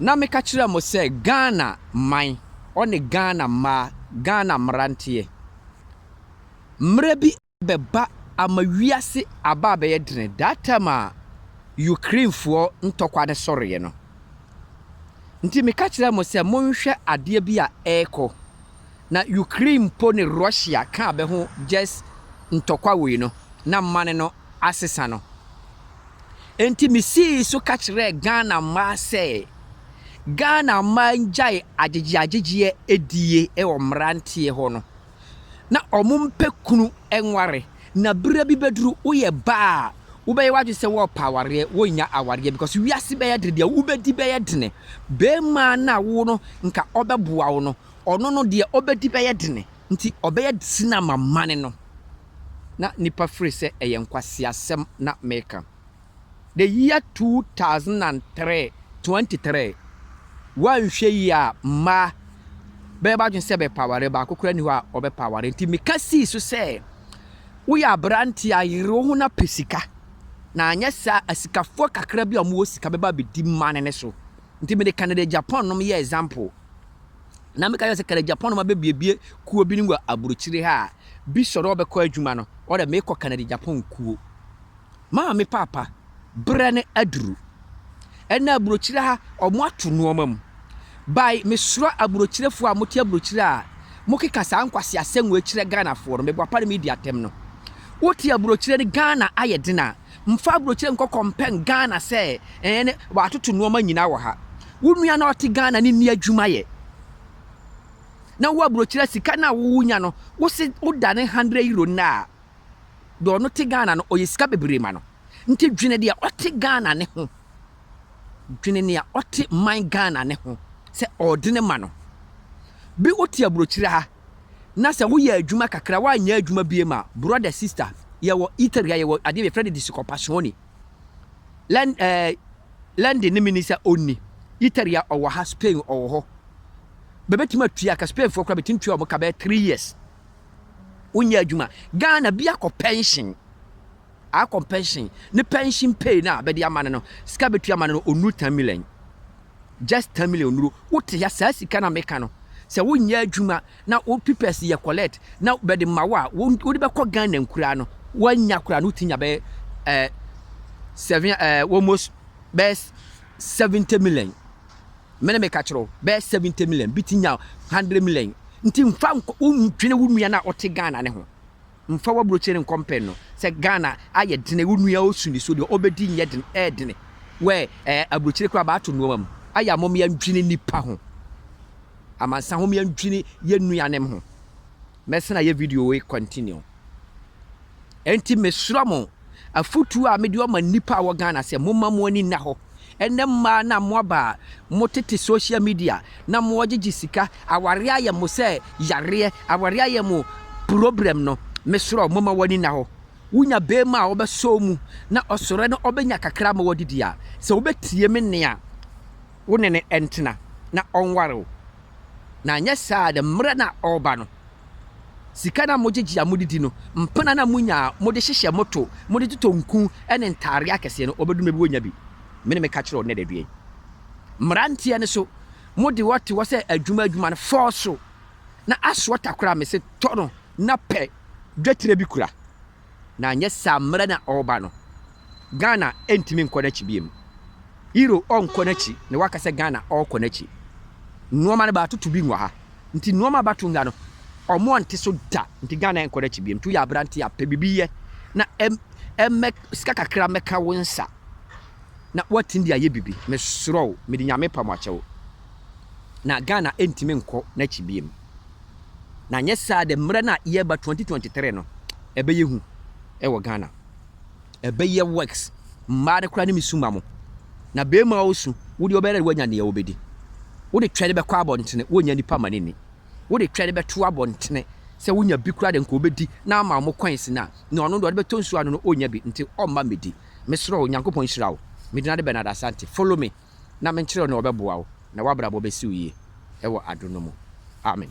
Na meka kyerɛɛ mo sɛ Ghana man ɔne Ghana mmaa, Ghana mmeranteɛ, mmerɛ bi abɛba ama wiase aba abɛyɛ dene, that time a Ukrainefoɔ ntɔkwa no sɔreeɛ no. Nti meka kyerɛɛ mo sɛ monhwɛ adeɛ bi a ɛrekɔ, na Ukraine mpo ne Russia ka bɛ ho just ntɔkwa wei no, na mane no asesa no. Enti misii so ka kyerɛɛ Ghana mmaa sɛ Ghana mmaa ngyae agyegyeagyegyeɛ die wɔ mmeranteɛ hɔ no na wɔmpɛ kunu nware na berɛ bi bɛduru woyɛ baa a wobɛyɛ w'adwene sɛ wɔrepɛ awareɛ wonnya awareɛ because wiase bɛyɛ dene deɛ wobɛdi bɛyɛ dene barima no a wo no nka ɔbɛboa wo no ɔno no deɛ ɔbɛdi bɛyɛ dene nti ɔbɛyɛ sina ma mane no. na nnipa firi sɛ ɛyɛ nkwaseasɛm na meka. The year two thousand and three, twenty three, woanhwɛ yie a mmaa bɛyɛ b'adwene sɛ bɛpɛ aware, baako koraa nni hɔ a ɔbɛpɛ aware. Nti meka sii so sɛ woyɛ aberanteɛ a yere wo ho na pɛ sika, na anyɛ saa asikafoɔ kakra bi a wɔwɔ sika bɛba abɛdi mmaa no ne so. Nti mede Canada Japan nom yɛ example. na meka kyerɛ sɛ kɛlɛ Japan no ma bɛbiebie kuo bi no wɔ aburokyire ha a bi sɔre ɔbɛkɔ adwuma no ɔdɛ mekɔ kɛlɛ Japan kuo maa me paapa berɛ no aduru ɛna aburokyire ha ɔmo ato nnoɔma mu bae mesoro aburokyirefoɔ a mote aburokyire a mokeka saa nkwasi asɛm wɔ akyirɛ Ghanafoɔ no meboapa no medi atɛm no wote aburokyire no Ghana ayɛ den a Mfa abrokyire nkɔ kɔmpɛn Ghana sɛ ɛɛ ne w'atoto nnoɔma nyinaa wɔ ha. Wo nua no a ɔte Ghana no nni adwuma yɛ. Na wo abrokyire sika no a wo nya no wo se wo dane hundred euro nnɛ a, deɛ ɔno te Ghana no ɔyɛ sika bebree ma no. Nti dwene deɛ ɔte Ghana no ho. Dwene nea ɔte man Ghana no ho sɛ ɔɔdene ma no. Bi wo te abrokyire ha. na sɛ woyɛ adwuma kakra woanyɛ adwuma biem a, brother, sister, yɛwɔ Italy ha, yɛwɔ adeɛ yɛfrɛ no discoppazione. Len, eh, Lendi ne mini sɛ ɔnni. Italy ha ɔwɔ ha, Spain ɔwɔ hɔ. Bɛbɛtumi atua ka, Spainfoɔ koraa bɛtumi tua wɔn ka bɛyɛ three years. Wonyɛ adwuma. Ghana bi akɔ pension. Aa compensation ne pension pay no a bɛde ama no no, sika a bɛtua ama no no, ɔnnuru 10 million. Just 10 million ɔnnuru. Wote ha, saa sika no a meka no, sɛ wonyɛ adwuma na wo pipɛs yɛ collect na bɛde ma wo a, wode bɛkɔ Ghana nkuraa no, woannya koraa no, wotumi nya bɛyɛ eh, seven, eh, almost bɛyɛ 70 million. Me ne meka kyerɛ wo, bɛyɛ 70 million, bi ti nya 100 million. Nti mfa nkɔ, wondwene wo nua no a ɔte Ghana ne ho. Mfa w'aburokyire nkɔ mpɛn no sɛ Ghana ayɛ dene wo nua osu ne so deɛ ɔbɛdi nyɛ dene ɛyɛ dene wɛ ɛɛ aburokyire koraa baato nnoɔma mu ayɛ a mom yɛndwene nnipa ho amansa ho yɛndwene yɛ nuanem ho mɛsena yɛ video wei continue ɛnti mesrɛ mo afotuo a mede ɔma nnipa a wɔ Ghana sɛ momma mo ani nna hɔ. Ɛnɛ mmaa no a mo aba a mo tete social media na mo gyegye sika, awareɛ ayɛ mo sɛ yareɛ, awareɛ ayɛ mo problem no, me serɛ wo momma w'ani nna hɔ. Wo nya beema a ɔbɛsɔ wo mu na ɔsɔrɛ na ɔbɛnya kakra ama w'adidi a, sɛ wo bɛ tie me nne a, wo ne no ntena na ɔnware wo. Na anyɛ saa a, dɛ mmerɛ no a ɔreba no, Sika no a mogye gye a mode di no, mpena no a munya a mode hyehyɛ mo to, mode totɔ nku ne ntadeɛ akɛseɛ no, wɔbɛduru mmerɛ bi wɔnnya bi. Me na meka kyerɛ wo nnɛ da dua yi. Mmeranteɛ no so, mode hɔ te hɔ sɛ adwuma adwuma no, fɔɔ so na asoɔ takora a mese tɔ no na pɛ dwetire bi kura. na anyɛ saa mmerɛ na ɔreba no, Ghana ntumi nkɔ n'akyi biom. Iro ɔnkɔ n'akyi na waka sɛ Ghana ɔrekɔ n'akyi. Nnoɔma no bɛatoto bi wɔ ha. Nti nnoɔma a bɛato nga no, ɔmo ante so da. Nti Ghana nkɔ n'akyi biom. Nti woyɛ aberanteɛ a, pɛ biribi yɛ na ɛmmɛ sika kakra mmɛka wo nsa na woatumi de ayɛ biribi. Mesrɛ wo, mede Nyame pam akyɛ wo. Na Ghana ntumi nkɔ n'akyi biom. Na anyɛ saa de mmerɛ no a yɛreba twenty twenty three no ɛbɛyɛ hu wɔ Ghana. Ɛbɛyɛ worse. Mmaa no koraa ne me su ma mo. Na barima a ɔresu, wo deɛ wobɛyɛ dɛ woanya deɛ wobɛdi. Wode twɛ de bɛkɔ abɔntene, wonnya nnipa mma no nni. Wode twɛ de bɛto abɔntene, sɛ wonya bi koraa de anka ɔbɛdi na ama mo coins no a, nea ɔno deɛ ɔde bɛtɔ nsuo anom no ɔnnya bi, nti ɔmma mmɛdi. Mesrɛ wo, Nyankopɔn nhyira wo. Me din ade Bernard Asante. Follow me. na menkyerɛ wo na ɔbɛboa wo na w'abrabɔ bɛsi wo yie wɔ adom no mu. Amen.